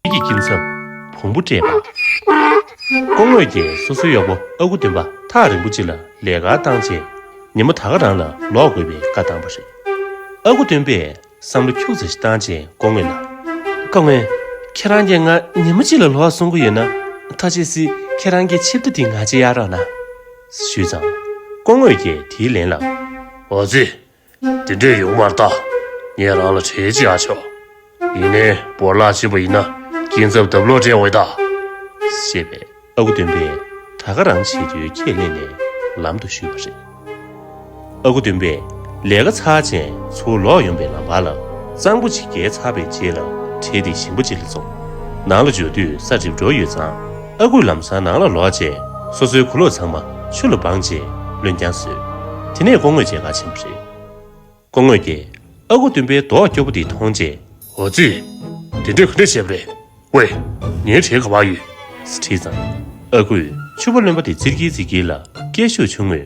ཁྱེད་ཀྱི་སྐྱིན་ཚབ་བོང་བུ་སྤྲད་པ། སྐུ་དངོས་རྒྱལ་སོ་སོའི་གཡོག་པོ་ཨ་ཁུ་སྟོན་པ་ཐག་རིང་པོ་གཅིག་ལ་ལས་ཀ་བཏང་རྗེས་ཉིན་མོ་ད་ག་རང་ལ་ལོག་དགོས་པའི་བཀའ་བཏང་བ་རེད། ཨ་ཁུ་སྟོན་པས་བསམ་བློ་འཁྱུག་ཚ་ཞིག་བཏང་རྗེས་སྐུ་དངོས་ལ། སྐུ་དངོས། ཁྱེད་རང་གིས་ང་ཉིན་མོ་གཅིག་ལ་ལོག་གསུང་གི་ཡོད་ན། ཐ་ཆད་སི་ཁྱེད་རང་གི་ཆིབས་རྟ་དེ་ང་ཅི་གཡར་རོགས་གནང། ཞུས་ཙང། སྐུ་དངོས་རྒྱལ་དེའི་ལན་ལ། འོ་ཛི། དེ་འདྲས་ཡོང་བར་བལྟ། ངས་རང་ལ་བྲེལ་ཅི་ཧ་ཆོག། ཡིན་ནའི་བོར་བརླག་བྱས་པ་ཡིན་ན་སྐྱིན་ཚབ་ལྡབ་ལོག་སྤྲད་འོས་ད། ཞེས་པས་ཨ་ཁུ་སྟོན་པས་ད་ག་རང་བྱེད་རྒྱུའི་ཁས་ལེན་ནས་ལམ་དུ་བཞུད་པ་རེད། ཨ་ཁུ་སྟོན་པས་ལས་ཀ་ཚར་རྗེས་ཚུར་ལོག་ཡོང་པའི་ལམ་བར་ལ་གཙང་པོ་ཅིག་བརྒལ་ཚར་བའི་རྗེས་ལ་འཕྲེད་དེ་ཞིང་པ་ཅིག་ལ་འཛོམས། ནང་ལ་འབྱོར་དུས་ས་གྲིབ་འགྲོ་ཡོད་ཙང། ཨ་ཁུ་ལམ་སང་ནང་ལ་ལོག་རྗེས་སོ་སོའི་གུ་ལོག་ཚང་མ་ཆུ་ལ་སྦངས་རྗེས་ལོན་ཀྱང་བཟོས། དེ་ནས་ཀོང་ངོས་བཅས་ག་ཕྱིན་པ་རེད། ཀོང་ངོས་ཀྱིས་ཨ་ཁུ་སྟོན་པའི་མདོག་སྐྱོ་པོ་དེ་མཐོང་རྗེས། འོ་ཙི། དེ་འདྲས་ག་འདྲས་བྱས་པ་རེད། ཝེ། ངའི་གྲས་ག་བ་ཡོད། ཟེར་དྲིས་ཙང། ཨ་ཁུས་ཆུ་བ་རློན་པ་དེ་བཙིར་གྱིན་བཙིར་གྱིན་ལ་སྐད་ཤུགས་ཆུང་ངུས།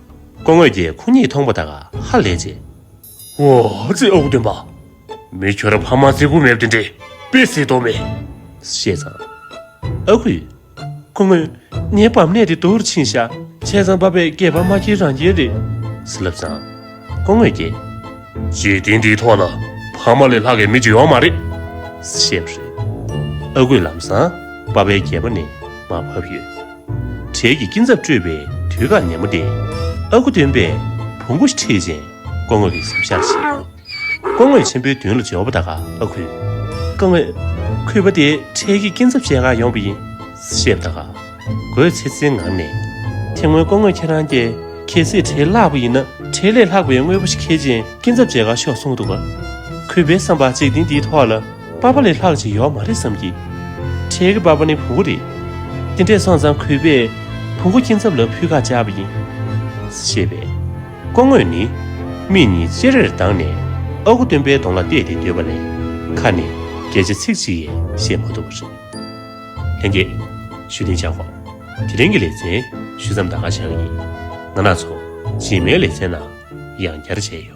སྐུ་དངོས་ཀྱིས་ཁོ་གཉིས་མཐོང་པ་དང་ཧ་ལས་རྗེས། འོ་ཙི་ཨོ་སྟོན་པ། མི་ཁྱོད་ཕ་མ་རྩེ་དགུ་མེད་དེ་འདྲེ་དཔེ་བཟས་དོགས་མེད། བཤད་ཙང། ཨ་ཁུ། སྐུ་དངོས། ངའི་བབ་གནས་དེ་དུར་ཕྱིན་ཤག་བྱས་ཙང་བབ་པའི་སྐྱེས་པ་མ་ཁྱེད་རང་རྒྱལ་རེད། ཟེར་ལབ་ཙང། སྐུ་དངོས་ཀྱིས། འཇིག་རྟེན་འདིའི་ཐོག་ལ་ཕ་མ་ལས་ལྷག་གི་མི་གཅིག་ཡོང་མ་རེད། བཤད་པ་རེད། ཨ་ཁུས་ལབ་ཙང་བབ་པའི་སྐྱེས་པ་ནི་མ་བབ་ཡོད། གྲལ་གྱི་སྐྱིན་ཚབ་སྤྲོད་པའི་དུས་བཀག་ནན་མོ་སྟེ། ཨ་ཁུ་སྟོན་པས་བུ་མགོ་ཁྲིད་ཅིང་སྐོར་ངོས་ཀྱི་ཟབ་ཤར་བྱེད། སྐོར་ངོས་ཆེན་པོའི་མདུན་ལ་ཇོ་བོ་ད་ག་ཨ་ཁུ། སྐོར་ངོས། ཁུས་པ་དེ་གྲལ་གྱི་སྐྱིན་ཚབ་བཤད་གང་ཡོང་པ་ཡིན། ཞེས་ད་ག་ཨ་ཁུས་ཚེ་ཚེའི་ངང་ནས། དེ་སྔོན་སྐོར་ངོས་ཁྱེད་རང་ཀྱེ། ཁྱེད་ཚེ་གྲལ་བསླགས་པ་ཡིན་ན་གྲལ་ལས་ལྷག་པའི་དངོས་པོ་ཞིག་ཁྱེར་ཅིང་སྐྱིན་ཚབ་བཅད་གང་ཤོག་གསུངས་འདུག་པ། ཁུས་པའི་བསམ་པ་གཅིག་དེ་འདིའི་ཐོག་ལ། པ་པ་ལས་ལྷག་ཅིག་ཡོག་མ་རེད་བསམ་གི། ཁྲེལ་གི་པ་པ་ནི་བུ་གུ་རེད། དེ་འདྲས་སོང་ཙང་གུས་པས་བུ་གུ་སྐྱིན་ཚབ་ལ་ཕུད་ཁ་བཅག་པ་ཡིན། ཞེས་པས། སྐོང་དངོས་ནི། མིག་གཉིས་ཅེ་རེར་གདངས་ནས་ཨ་ཁུ་སྟོན་པའི་གདོང་ལ་བལྟས་ཏེ་སྡོད་པ་ལས། ཁ་ནས་སྐད་ཆ་ཚིག་གཅིག་ཡས་བཤད་མ་ཐུབ་པ་རེད། ལྷན་རྒྱས། ཞུ་རྟིང་བཅག་གོ། དེ་རིང་གི་ལེ་ཚན་ཞུ་མཚམས་ད་ག་བཞག་ཡིན། ང་ནག་ཚོགས་རྗེས་མའི་ལེ་ཚན་ནང་ཡང་བསྐྱར་བྱས་ཡོད།